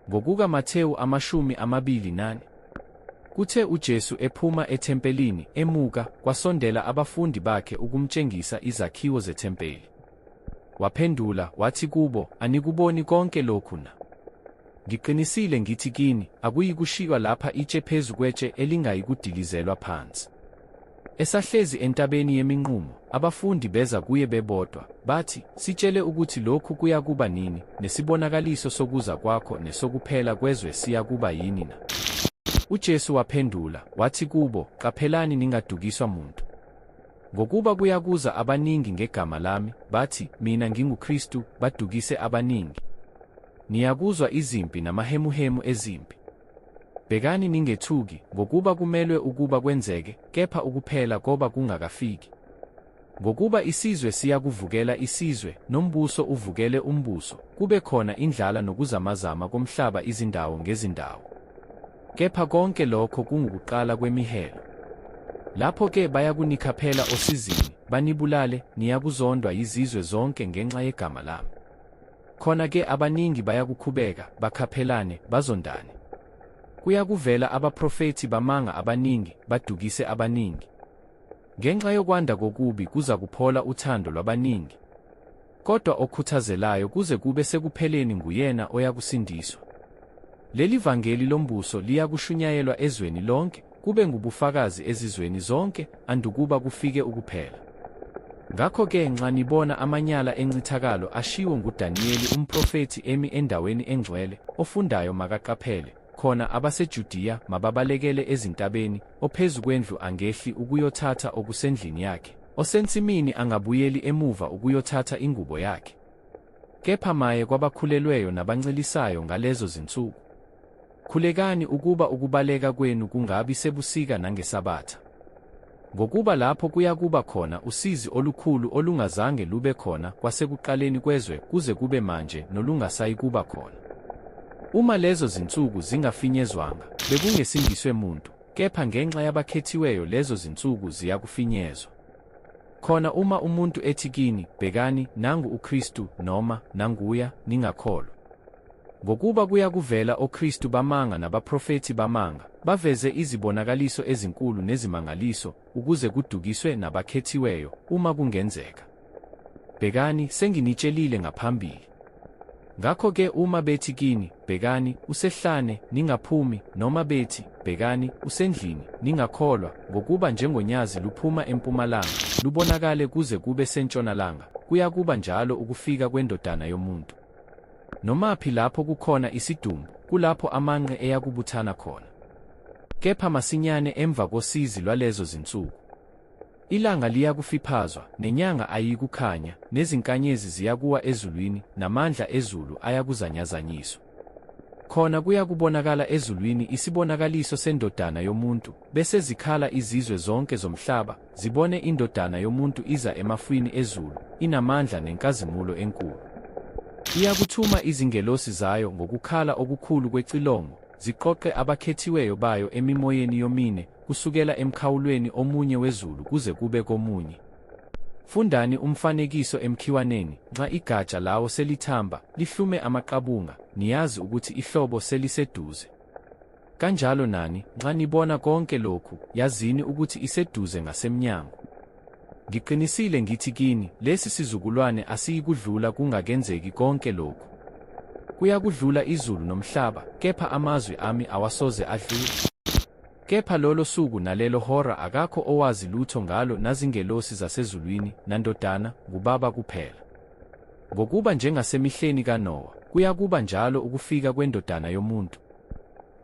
Ngokuka Mathewu amashumi amabili nane. Kuthe uJesu ephuma ethempelini emuka kwasondela abafundi bakhe ukumtshengisa izakhiwo zethempeli. Waphendula wathi kubo anikuboni konke lokhu na? Ngiqinisile ngithi kini akuyikushiywa lapha itshe phezu kwetshe elingayikudilizelwa phansi. Esahlezi entabeni yeminqumo, abafundi beza kuye bebodwa, bathi, Sitshele ukuthi lokhu kuyakuba nini, nesibonakaliso sokuza kwakho nesokuphela kwezwe siyakuba yini na? UJesu waphendula, wathi kubo, Qaphelani ningadukiswa muntu. Ngokuba kuyakuza abaningi ngegama lami, bathi, Mina nginguKristu, badukise abaningi. Niyakuzwa izimpi namahemuhemu ezimpi. Bhekani ningethuki, ngokuba kumelwe ukuba kwenzeke, kepha ukuphela koba kungakafiki. Ngokuba isizwe siyakuvukela isizwe, nombuso uvukele umbuso, kube khona indlala nokuzamazama komhlaba izindawo ngezindawo. Kepha konke lokho kungukuqala kwemihelo. Lapho-ke bayakunikhaphela osizini, banibulale, niyakuzondwa yizizwe zonke ngenxa yegama lami. Khona-ke abaningi bayakukhubeka, bakhaphelane, bazondane. Kuyakuvela abaprofethi bamanga abaningi, badukise abaningi. Ngenxa yokwanda kokubi kuza kuphola uthando lwabaningi. Kodwa okhuthazelayo kuze kube sekupheleni nguyena oyakusindiswa. Leli vangeli lombuso liyakushunyayelwa ezweni lonke, kube ngubufakazi ezizweni zonke, andukuba kufike ukuphela. Ngakho-ke nxa nibona amanyala encithakalo ashiwo nguDaniyeli umprofethi emi endaweni engcwele, ofundayo makaqaphele, khona abaseJudiya mababalekele ezintabeni, ophezu kwendlu angehli ukuyothatha okusendlini yakhe, osensimini angabuyeli emuva ukuyothatha ingubo yakhe. Kepha maye kwabakhulelweyo nabancelisayo ngalezo zinsuku! Khulekani ukuba ukubaleka kwenu kungabi sebusika nangesabatha. Ngokuba lapho kuyakuba khona usizi olukhulu olungazange lube khona kwasekuqaleni kwezwe kuze kube manje nolungasayikuba khona. Uma lezo zinsuku zingafinyezwanga, bekungesindiswe muntu, kepha ngenxa yabakhethiweyo lezo zinsuku ziyakufinyezwa. Khona uma umuntu ethi kini, Bhekani, nangu uKristu, noma, Nanguya, ningakholwa. Ngokuba kuyakuvela oKristu bamanga nabaprofethi bamanga, baveze izibonakaliso ezinkulu nezimangaliso, ukuze kudukiswe nabakhethiweyo, uma kungenzeka. Bhekani, senginitshelile ngaphambili. Ngakho-ke uma bethi kini, Bhekani, usehlane, ningaphumi, noma bethi, Bhekani, usendlini, ningakholwa, ngokuba njengonyazi luphuma empumalanga, lubonakale kuze kube sentshonalanga, kuyakuba njalo ukufika kweNdodana yomuntu. Nomaphi lapho kukhona isidumbu, kulapho amanqe eyakubuthana khona. Kepha masinyane emva kosizi lwalezo zinsuku, Ilanga liyakufiphazwa, nenyanga ayiyikukhanya, nezinkanyezi ziyakuwa ezulwini, namandla ezulu ayakuzanyazanyiswa. Khona kuyakubonakala ezulwini isibonakaliso sendodana yomuntu, bese zikhala izizwe zonke zomhlaba, zibone indodana yomuntu iza emafwini ezulu, inamandla nenkazimulo enkulu. Iyakuthuma izingelosi zayo ngokukhala okukhulu kwecilongo, ziqoqe abakhethiweyo bayo emimoyeni yomine, kusukela emkhawulweni omunye wezulu kuze kube komunye. Fundani umfanekiso emkhiwaneni, nxa igatsha lawo selithamba, lihlume amaqabunga, niyazi ukuthi ihlobo seliseduze. Kanjalo nani, nxa nibona konke lokhu, yazini ukuthi iseduze ngasemnyango. Ngiqinisile ngithi kini, lesi sizukulwane asiyikudlula kungakenzeki konke lokhu. Kuyakudlula izulu nomhlaba, kepha amazwi ami awasoze adlule. Kepha lolo suku nalelo hora akakho owazi lutho ngalo nazingelosi zasezulwini, naNdodana, nguBaba kuphela. Ngokuba njengasemihleni kaNowa, kuyakuba njalo ukufika kweNdodana yomuntu.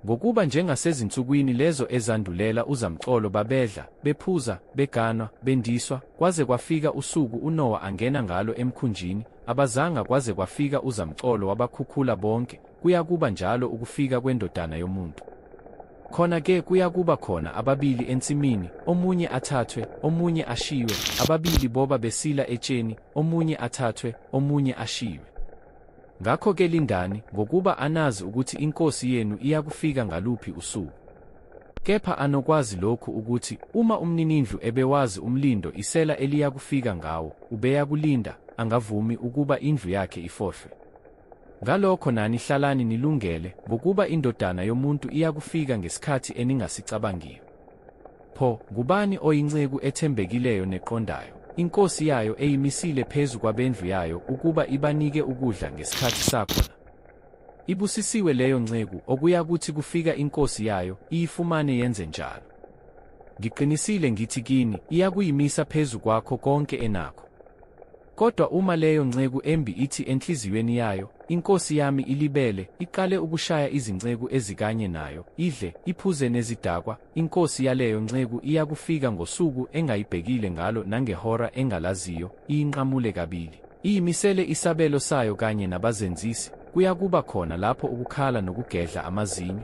Ngokuba njengasezinsukwini lezo ezandulela uzamcolo babedla, bephuza, beganwa, bendiswa, kwaze kwafika usuku uNowa angena ngalo emkhunjini, abazanga kwaze kwafika uzamcolo wabakhukhula bonke, kuyakuba njalo ukufika kweNdodana yomuntu. Khona-ke kuyakuba khona ababili ensimini, omunye athathwe, omunye ashiywe, ababili boba besila etsheni, omunye athathwe, omunye ashiywe. Ngakho-ke lindani, ngokuba anazi ukuthi iNkosi yenu iyakufika ngaluphi usuku. Kepha anokwazi lokhu ukuthi uma umninindlu ebewazi umlindo isela eliyakufika ngawo, ubeyakulinda, angavumi ukuba indlu yakhe ifohlwe. Ngalokho nani hlalani nilungele, ngokuba iNdodana yomuntu iyakufika ngesikhathi eningasicabangiyo. Pho, ngubani oyinceku ethembekileyo neqondayo, inkosi yayo eyimisile phezu kwabendlu yayo ukuba ibanike ukudla ngesikhathi sakhona? Ibusisiwe leyo nceku okuyakuthi kufika inkosi yayo iyifumane yenze njalo. Ngiqinisile ngithi kini, iyakuyimisa phezu kwakho konke enakho. Kodwa uma leyo nceku embi ithi enhliziyweni yayo, Inkosi yami ilibele, iqale ukushaya izinceku ezikanye nayo, idle, iphuze nezidakwa, inkosi yaleyo nceku iyakufika ngosuku engayibhekile ngalo nangehora engalaziyo, iyinqamule kabili. Iyimisele isabelo sayo kanye nabazenzisi, kuyakuba khona lapho ukukhala nokugedla amazinyo.